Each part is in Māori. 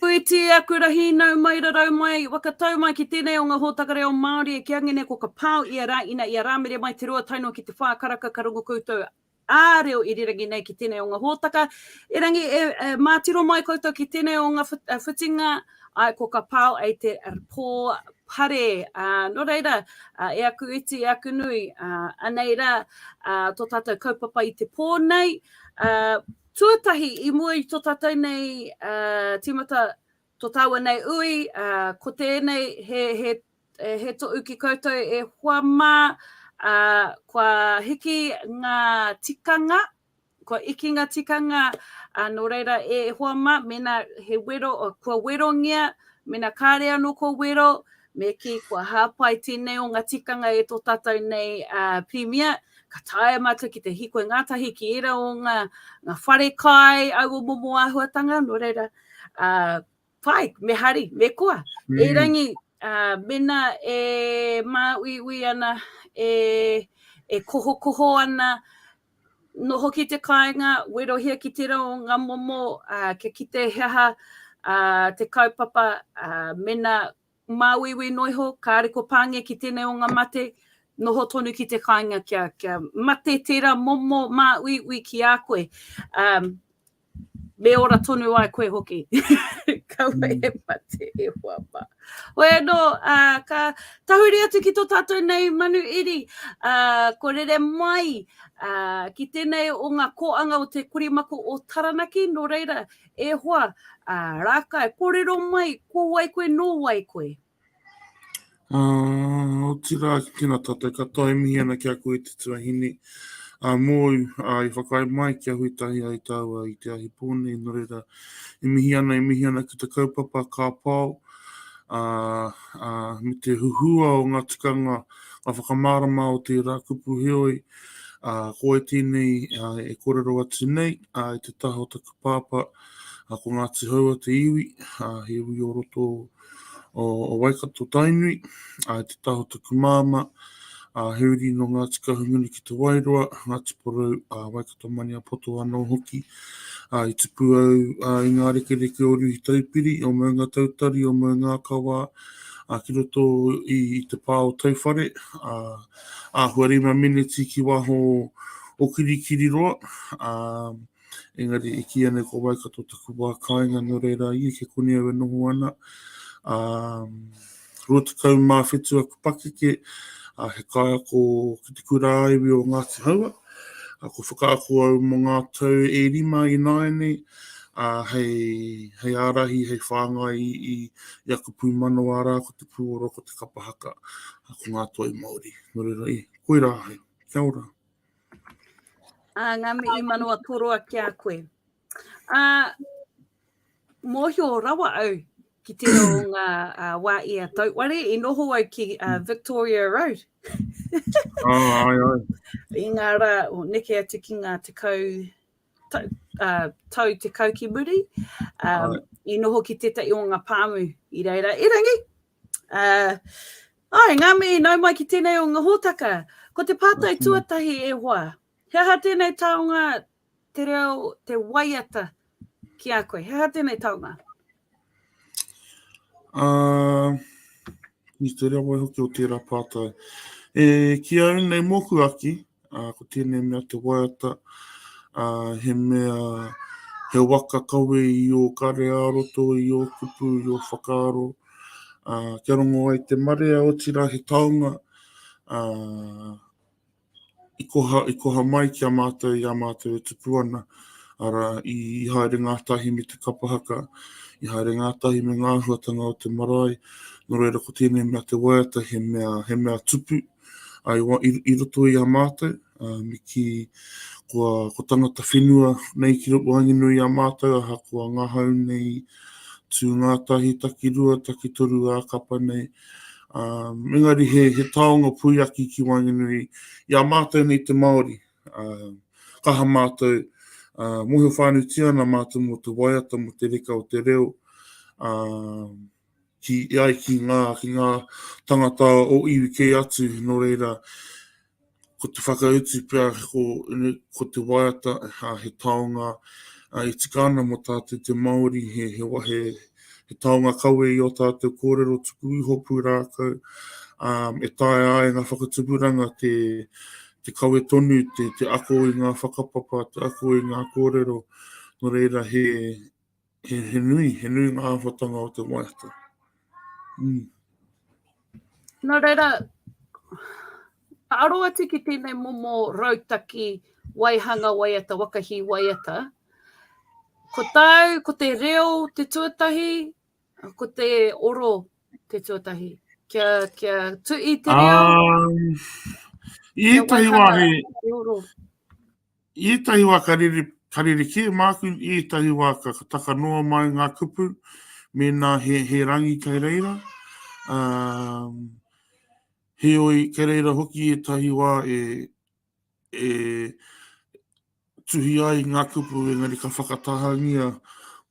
Whēti e aku ra hīnau mai ra rau mai, wa ka tau mai ki tēnei o nga hōtaka reo Māori e kia ngene ko ka pao ia ra, ina ia ra mere mai te rua tae noa ki te wha karaka ka rongo koutou a reo irirangi nei ki tēnei o nga hōtaka, erangi e ma tiro mai koutou ki tēnei o nga whitinga, ae ko ka pao ei te pō pare, no reira e aku iti e aku nui, anei ra to tatou kaupapa i te pō nei, Tuatahi, i mua i tō tātou nei tīmata, tō tāua nei ui, ko tēnei he toʻu ki koutou e hoa mā, kua hiki ngā tikanga, kua iki ngā tikanga, nō reira e hoa mā, mēnā he wero, kua werongia, mēnā kāre anō kua wero, Me kī, kua hāpai tēnei o ngā tikanga e tō tātou nei Pirimia, ka taea mātou ki te hiko ngātahi ki ērā o ngā, ngā whare kai au o momo āhuatanga, nō reira, uh, pai, me hari, me koa. Mm. Erangi, uh, mena e māuiui ana, e, e kohokoho ana, Noho ki te kāinga, werohia ki tērā o ngā momo kia kite he aha te kaupapa mena māuiui noa iho, kāre kua pāngia ki tēnei o ngā mate, noho tonu ki te kāinga kia mate tērā momo māuiui ki a koe. Me ora tonu ai koe hoki. Kaua e mate e hoa ma. Hoi anō, uh, ka tahuri atu ki tō tātou nei manu iri, uh, ko rere mai uh, ki tēnei o ngā kōanga o te korimako o Taranaki, nō reira e hoa, uh, rākai, kōrero mai, ko wai koe, nō wai koe? Uh, otirā, tēnā tātou katoa e mihi ana ki a koe te tuahine. Uh, mōu, uh, i whakae mai ki a hui tahi ai tāua i te ahi pōne, no reira, e mihi ana, e mihi ana ki te kaupapa ka pao, uh, uh, me te huhua o ngā tikanga, ngā whakamārama o tērā kupu heoi, uh, ko e tēnei uh, e korero atu nei, uh, i te taha o taku pāpā, uh, ko Ngāti Haua te iwi, uh, he iwi o roto, uh, o Waikato Tainui, a te taha o taku māma, a he uri no Ngāti Kahungunu ki te Wairoa, Ngāti Porou, a Waikato Maniapoto anō hoki. A, i tupu au a, i ngā rekereke o Ruhi Taupiri, o Maunga Tautari, o Maunga Akawa, a, ki roto i, i te pā o Tauwhare, a, a hua rima miniti ki waho o Kirikiriroa, a, a, Engari i kīia nei ko Waikato taku wā kāinga, nō reira i eke koni au e noho ana. Um, 27 aku pakeke, a he kaiako ki te kura aiwi o Ngāti Haua. A ko whakaako au mō ngā tau e rima i nāianei, a hei, hei ārahi, hei whāngai i, i, i aku pūmanawa rā, ko te pūoro, ko te kapahaka, a ko ngā toi Māori. Nō reira, i, koirā hai, kia ora. Ā, ngā mihi manawa toroa ki a koe. Ā, mōhio rawa au ki tērā o ngā uh, wā i a Tauware, i noho au ki uh, Victoria Road. oh, ai, ai. I ngā rā, o neke atu ki ngā te kau, tau, uh, tau te kau ki muri, um, ai. i noho ki tētai o ngā pāmu i reira. Erangi, Uh, ai, ngā mihi nau mai ki tēnei o ngā hōtaka. Ko te pātai tuatahi e hoa, he aha tēnei taonga te reo, te waiata ki a koe? He aha tēnei taonga? Uh, ni te reo wai hoki o tērā pātai. E, ki au nei mōku aki, Uh, ko tēnei mea te waiata, uh, he mea, he waka kawe i o kare a roto, i o kupu, i o whakaaro. Uh, kia rongo ai te marea, o tira he taonga, uh, i, koha, i koha mai ki a mātou, i a mātou e tupu ana. Ara, i, i haere ngātahi me te kapahaka, i haere ngātahi me ngā huatanga o te marae. Nō reira ko tēnei mea te waiata, he mea, he mea tupu, I wa, i, i roto i a mātou, uh, me ki kua, ko tangata whenua nei ki roto wānginu i a mātou, aha kua ngahau nei tū ngātahi taki rua, taki toru ā kapa nei. Uh, mengari he, he taonga puiaki ki wānginu i, i a mātou nei te Māori. Uh, kaha mātou, uh, mohio whānutia ana mātou mō te waiata, mō te reka o te reo, uh, ki ai ki ngā, ki ngā tangata o iwi kē atu, nō reira, ko te whakautu pea, ko, ko te waiata, ha, he taonga, a, e tika ana mo tātou te Māori, he, he, he, he taonga kawe i o tātou kōrero tuku iho pūrākau, um, e taea ai ngā whakatupuranga te, te kawe tonu, te, te ako i ngā whakapapa, te ako i ngā kōrero, nō reira he, He, he nui, he nui ngā āwhatanga o te waiata. Mm. Nō reira, ka aro atu ki tēnei momo rautaki waihanga waiata, wakahi waiata. Ko tāu, ko te reo te tuatahi, ko te oro te tuatahi. Kia, kia tui te reo. Um, I ētahi wā he, I ētahi wā ka rerekē māku, i ētahi wā ka taka noa mai ngā kupu mēnā he, he rangi kei reira. Um, heoi, kei reira hoki ētahi wā e, e tuhi ai ngā kupu, engari ka whakatahangia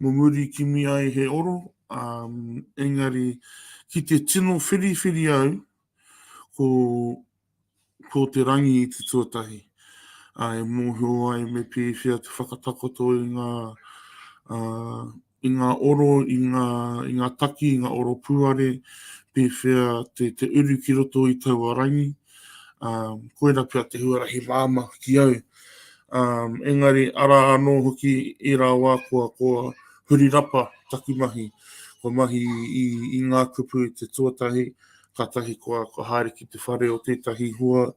mo muri kimi ai he oro. Um, engari, ki te tino whiriwhiri au, ko Ko te rangi i te tuatahi a e mōhio ai me pēwhea te whakatakoto i ngā uh, i ngā oro, i ngā, i ngā taki, i ngā oro pūare, pēwhea te, te uru ki roto i taua rangi. Um, koera pia te huarahi māma ki au. Um, engari, ara anō hoki i rā wā kua, kua huri rapa taku mahi. Kua mahi i, i ngā kupu te tuatahi, Kātahi kua haere ki te whare o tētahi hoa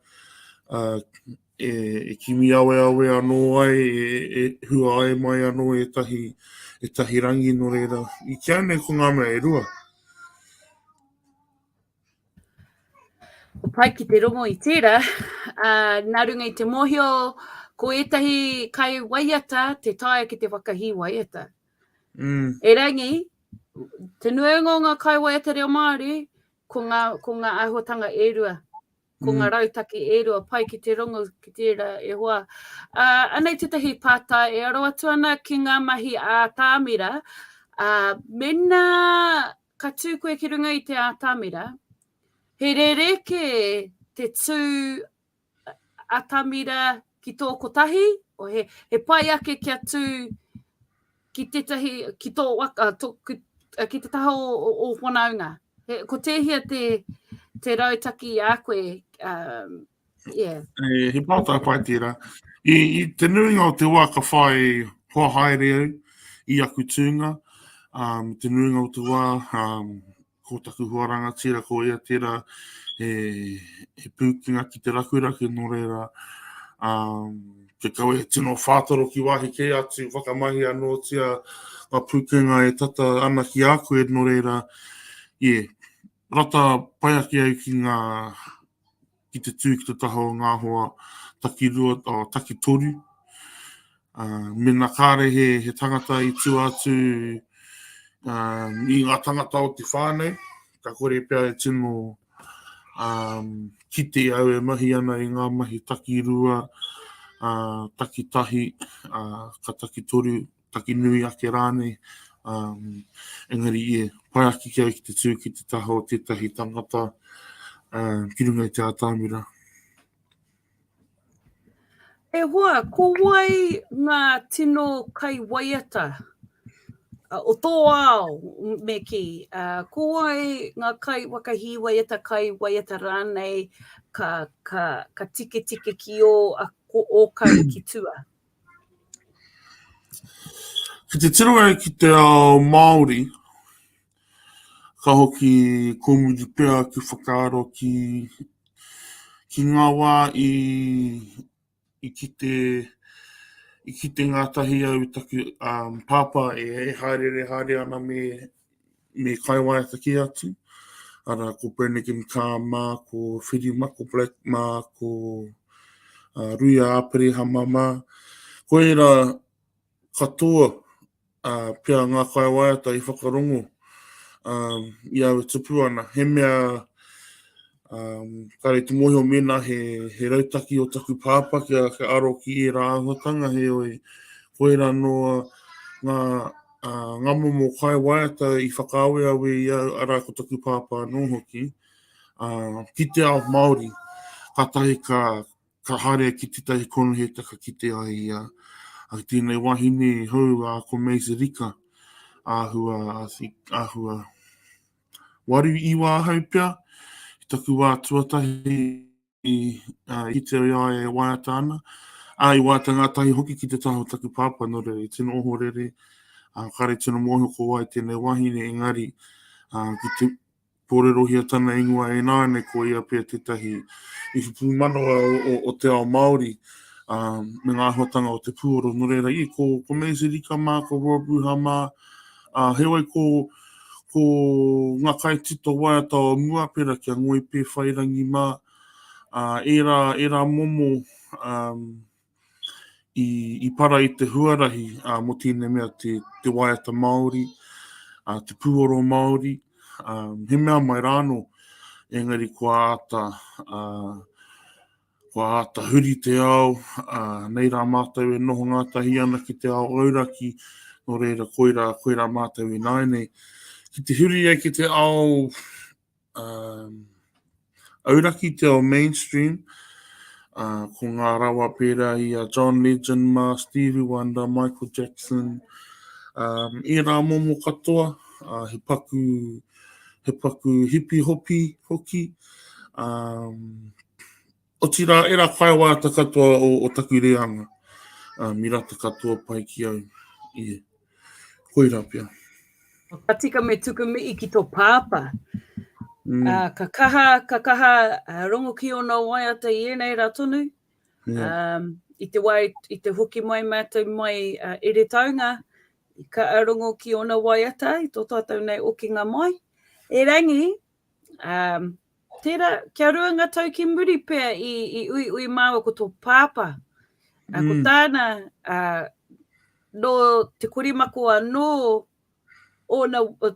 e, e kimi aweawe anō ai, e, e hua ai mai anō e tahi, e tahi rangi no reira. I kia nei ko ngā mea e rua. Ko pai ki te rongo i tērā, uh, nā runga i te mōhio, ko ētahi kai waiata te taia ki te whakahī waiata. Mm. Erangi, te nuenga o ngā kaiwai a te reo Māori, ko ngā, ko ngā āhuatanga e rua, ko mm. ngā rautaki e rua, pai ki te rongo, ki te rā e hoa. Uh, anei tētahi pātā e aro atu ana ki ngā mahi a Tāmira, uh, mena ka tū koe ki runga i te ātamira, he rere ke te tū atamira ki tō kotahi, o he, he pai ake kia tū ki tētahi, ki tō waka, tō, ki, ki te taha o, o, o whanaunga. He, ko tēhia te, te rautaki a koe, um, yeah. E, he pātai pai tērā. I, I te nuinga o te wā ka whai hoa haere au i aku tūnga, um, te nuinga o te wā, um, ko taku hoa rangatira ko ia tērā he, he pūkenga ki te rakuraku nō reira um, te kawe he tino whātoro ki wāhi kē atu whakamahi anōtia ngā pūkenga e tata ana ki a koe nō reira yeah, rata pai ake au ki ngā ki te tū ki te taha o ngā hoa takirua, o takitoru. Uh, mena kāre he, he tangata i tū atu um, i ngā tangata o te whānau, ka kore pia e tino um, ki te au e mahi ana i ngā mahi takirua, uh, takitahi, uh, ka takitoru, taki nui ake rānei. Um, engari, e, pai aki ki au ki te tū ki te taha o tētahi tangata uh, ki runga i te ātāmira. E hoa, ko wai ngā tino kai waiata uh, o tō ao me ki? Uh, ko wai ngā kai wakahi waiata, kai waiata rānei ka, ka, ka tike tike ki o, a, ko, o kai ki tua? Ki te tiro au ki te ao Māori, ka hoki komiti pea ki whakaaro ki ki ngā wā i i kite i kite ngātahi au i taku pāpā e hāereere haere ana me me kaiwaiata ki atu. Ara, ko Brannigan Car mā, ko Whiri mā, ko Black mā, ko uh, Rui Āperehama mā. Ko ērā katoa uh, pia ngā kaiwaiata i whakarongo uh, i au e tupu ana. He mea Um, kare te mōhio mena he, he rautaki o taku pāpa kia, kia aro ki e rā ahuatanga he oi. Koe rā no ngā, uh, ngā momo kai waiata i whakaaweawe i au ara ko taku pāpa anō hoki. Uh, ki te ao Māori, ka tahi ka, ka harea ki te tahi konuhe taka ki te ai ia. Uh, tēnei wahine hou a uh, ko Mace Rika, āhua, āhua, Waru i wāhau pea, i taku wā tuatahi i uh, i te ia e waiata ana. A i waiata ngātahi hoki ki te taha o taku pāpā, no rere, tino oho rere, uh, kare tino mōhio ko wai tēnei wahine, engari, uh, ki te pōrerohia tana ingoa e nāne, ko ia pia tētahi i whupū manawa o, o, o te ao Māori, um, me ngā hotanga o te pūoro, no rere, i ko, ko Maisie Rika mā, ko Rob Ruha mā, Ā, heoi ko, ko ngā kaitito waiata o mua, pērā ki a Ngoi Pēwhairangi mā, ā, ērā, ērā momo, ā, i, i para i te huarahi, ā, mō tēnei mea te, te waiata Māori, ā, te pūoro Māori, ā, he mea mai rāno, engari kua āta, ā, Kua āta huri te ao, ā, nei rā mātou e noho ngātahi ana ki te ao auraki, nō reira koirā, koirā mātou i nāianei. Ki te huri ai ki te ao um, auraki, te ao mainstream, uh, ko ngā rawa pērā i a John Legend, Ma, Stevie Wonder, Michael Jackson, um, i rā momo katoa, uh, he paku, he paku hipi hopi hoki, um, Otirā, ērā whaiawāta katoa o, o taku reanga, uh, mirata katoa pai ki au. Yeah. Koirā pia. Ka tika me tuku mihi ki tō pāpā. Mm. Uh, ka kaha, ka kaha uh, rongo ki ona waiata i ēnei rā tonu. Yeah. Um, i te wai, i te hoki mai mātou mai uh, ere taunga, ka arongo ki ona waiata, i tō tātou nei okinga mai. E rangi, Tērā, kia rua ngā tau ki muri pea i uiui māua ko tō pāpā. Ko tāna, nō Te Korimako anō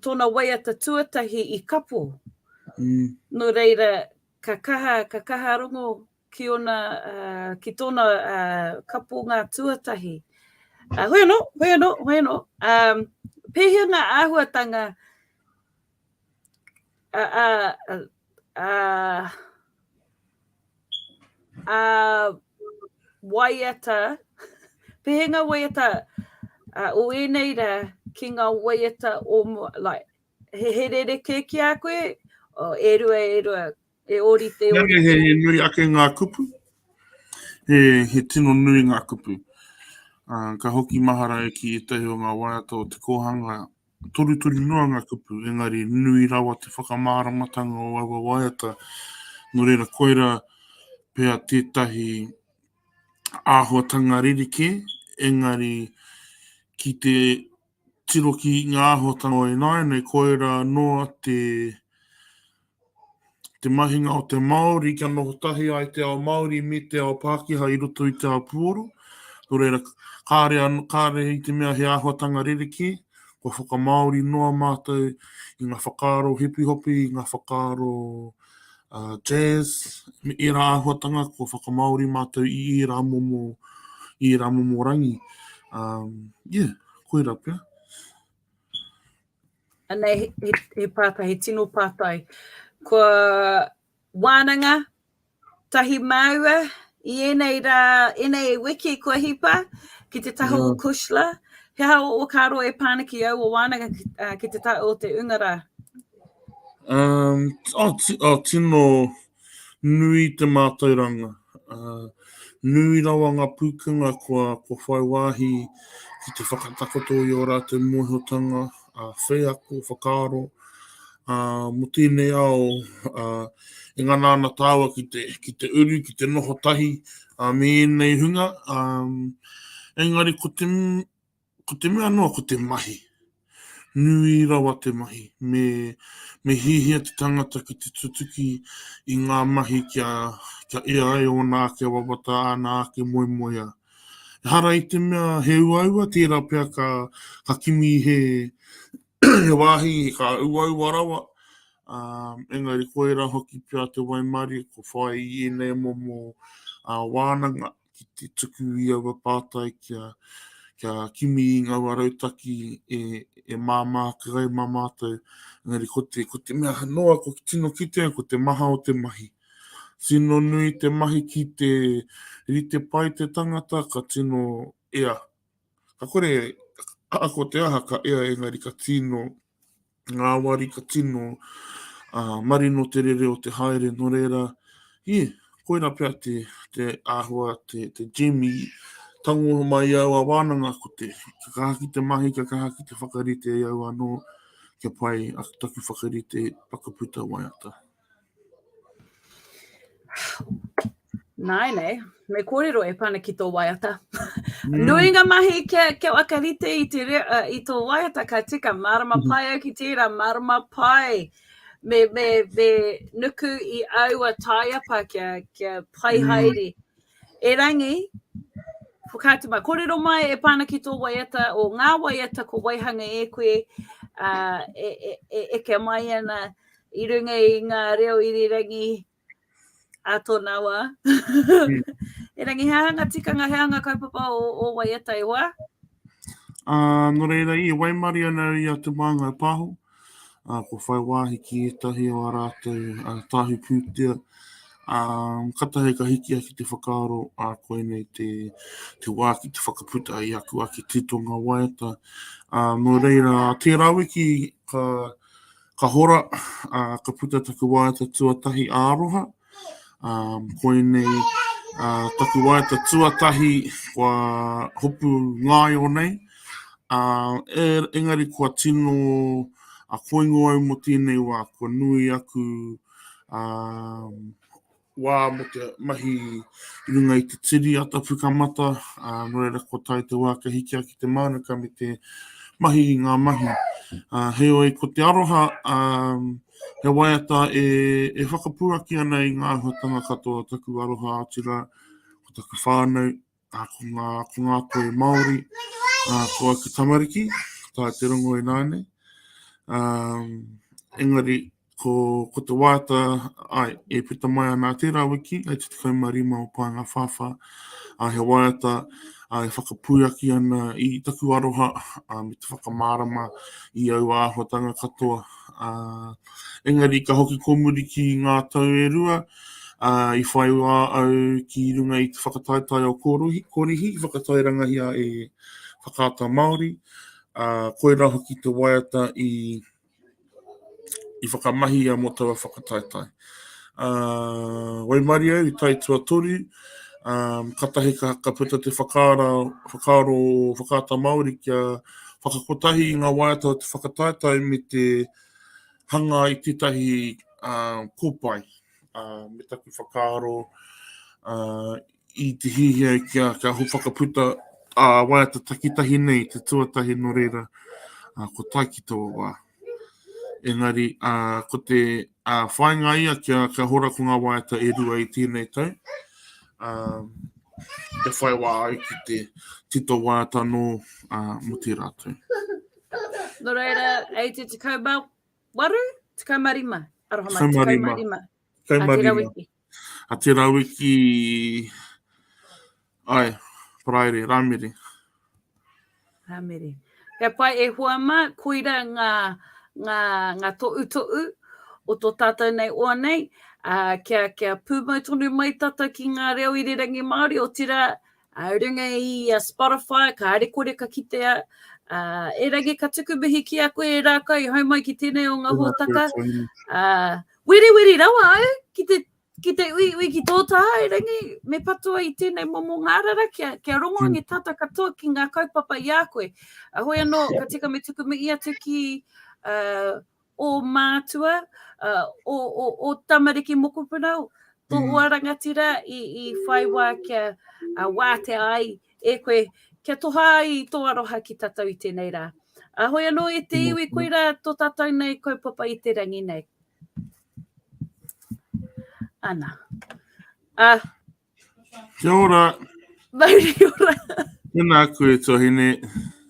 tōna waiata tuatahi i kapo. Nō reira, ka kaha, ka kaha rongo ki ōna, ki tōna kaponga tuatahi. Hoi anō, hoi anō, hoi anō. Pēhea ngā āhuatanga a waiata, pēhea ngā waiata o ēnei rā ki ngā waiata o mua, like, he, he rerekē ki a koe, o e rua, e rua, e ori te ori. Nā, he, he nui ake ngā kupu, he, he tino nui ngā kupu. Uh, ka hoki mahara e ki ētahi o ngā waiata o te kōhanga Torutoru noa ngā kupu, engari nui rawa te whakamāramatanga o aua waiata, nō reira koirā pea tētahi āhuatanga rerekē, engari ki te tiro ki ngā āhuatanga o ināianei, koirā noa te te mahinga o te Māori kia noho tahi ai te ao Māori me te ao Pākehā i roto i te ao puoro. Nō reira, kāre, kāre i te mea he āhuatanga rerekē, kua whakamāori noa mātou i ngā whakaaro hipihopi, i ngā whakaaro uh, jazz, me ērā āhuatanga, kua whakamāori mātou i ērā momo, i ērā momo rangi. Um, yeah, koira pia. Anei he, he, he pātai, he tino pātai. Ko wānanga tahi māua i enei rā, enei wiki kua hipa ki te taha o Kushla. He aha o kā roa e pāna ki au o wānanga ki, uh, ki te taha o te unga rā? Um, oh, oh, tino, Nui te mātauranga, nui rawa ngā pūkenga kua whai wāhi ki te whakatakoto i ō rātou mōhiotanga, wheako, whakaaro, mō tēnei ao e ngana ana tāua ki te uru, ki te noho tahi me ēnei hunga. Engari ko te Ko te mea noa ko te mahi. Nui rawa te mahi. Me, me hiahia te tangata ki te tutuki i ngā mahi kia, kia ea ai ōna ake wawata, āna ake moemoea. Ehara i te mea he uaua, tērā pea ka, ka kimi he, he wāhi ka uaua rawa, ā, engari koirā hoki pea te waimarie kua whai i ēnei momo ā, wānanga. ki te tuku i aua pātai kia, kia kimi i ngaua rautaki e, e māmā ake ai mā mātou. Engari ko te, ko te mea noa, ko ki tino kitea, ko te maha o te mahi. Tino nui te mahi ki te rite pai te tangata, ka tino ea Ka kore, ka ako te aha ka ea engari ka tino ngāwari, ka tino uh, marino te rere o te haere, no reira, he, koira pea te, te āhua, te, te gem i tango mai au a wānanga ko te ka kaha ki te mahi, ka kaha ki te whakarite i au anō kia pai a taku whakarite whakaputa waiata. Nāi nei, me kōrero e pana ki tō waiata. Mm. Nui ngā mahi kia, kia waka rite i, te, uh, i tō waiata ka tika. Mārama mm-hmm. pai au ki tērā, mārama pai. Me, me, me nuku i aua taiapa kia, kia pai mm. haere. E rangi, whakaatu mai, kōrero mai e pana ki tō waiata, o ngā waiata ko waihanga e koe, uh, e, e, e, e, e mai ana, I runga i ngā reo irirangi a tōna wā. Erangi, he aha ngā tikanga, he aha ngā kaupapa o, o waiata e hoa? Uh, no reira, i waimari ana i a Te Māngai Pāho, uh, ko whai wāhi ki ētahi o a rātou uh, tāhi pūtea, um, katahe ka hiki aki te whakaaro a uh, koenei te, te wā ki te whakaputa i aku ake titonga waiata. Uh, no reira, tērā wiki ka, Ka hora, ā, ka puta taku waiata tuatahi ā-aroha. Ā, koinei ā, taku waiata tuatahi kua hopu ngaio nei. Ā, e, engari kua tino a koingo au mō tēnei wā, kua nui aku ā, wā mo te mahi i runga i te tiri ata pukamata, a, no reira ko tai te wā ka hiki ki te mānuka me te mahi i ngā mahi. A, heoi, ko te aroha, a, he waiata e, e whakapuaki ana i ngā ahuatanga katoa taku aroha, otirā, ko taku whānau, A, ko ngā, ko ngā toi Māori, a, ko au te tamariki, tā te rongo inā nei. A, engari, ko, ko te wāta, ai, e puta mai ana tērā wiki, ai te 15 o Pānga Whāwhā, a, he wāta, a, e whakapūaki ana i taku aroha, a, me te whakamārama i au āhuatanga katoa, a, Engari ka hoki kō muri ki ngā tau e rua, ā, i whai wā au ki runga i te whakataetae o Korihi, whakatairangahia e Whakaata Māori, ā, koirā hoki te waiata i i whakamahia mō taua whakataetae. Ā, waimarie au i tae tuatoru, ā, katahi ka, ka puta te whakaara, whakaaro o Whakaata Māori kia whakakotahi i ngā waiata o te whakataetae me te hanga ai tētahi uh, kōpae uh, me taku whakaaro uh, i te hihia kia, kia ho whakaputa a uh, waiata takitahi nei te tuatahi no reira uh, ko tai ki tō wā. Engari, uh, ko te uh, whainga ia kia, kia hora ko ngā waiata e rua i tēnei tau. Uh, te whai wā ai ki te tito waiata no uh, mo te rātou. Nō reira, e te tekau mā waru, tekau mā rima. Aroha mai, tekau mā rima. Tekau mā rima. A te rawiki... Ai, paraire, rāmere. Rāmere. He pai e hoa mā, koira ngā, ngā, ngā toʻu toʻu o tō tātou nei oa nei, a, kia, kia pūmau tonu mai tātou ki ngā reo i rerangi Māori, o tira, Runga i a Spotify, kāre kore ka kitea. Erangi ka tuku mihi ki a koe e Rākau i hau mai ki tēnei o ngā hōtaka. Wiri wiri rawa au ki te ki te ui ui ki tō tā, Erangi, me patua i tēnei momo ngārara kia, kia rongoangi mm. tata katoa ki ngā kaupapa i a koe. Ahoi anō, ka tika me tuku mihi atu ki uh, ō mātua, ō, ō, ō tamariki mokopuna, tō mm. ua rangatira i, i whai wā kia uh, wātea ai e koe, kia toha ai tō aroha ki tātou i tēnei rā. Ahoi anō e te iwi, koira tō tātou nei kaupapa i te rangi nei. Ana. A... Kia ora. Mauri ora. Tēnā koe, Tohine.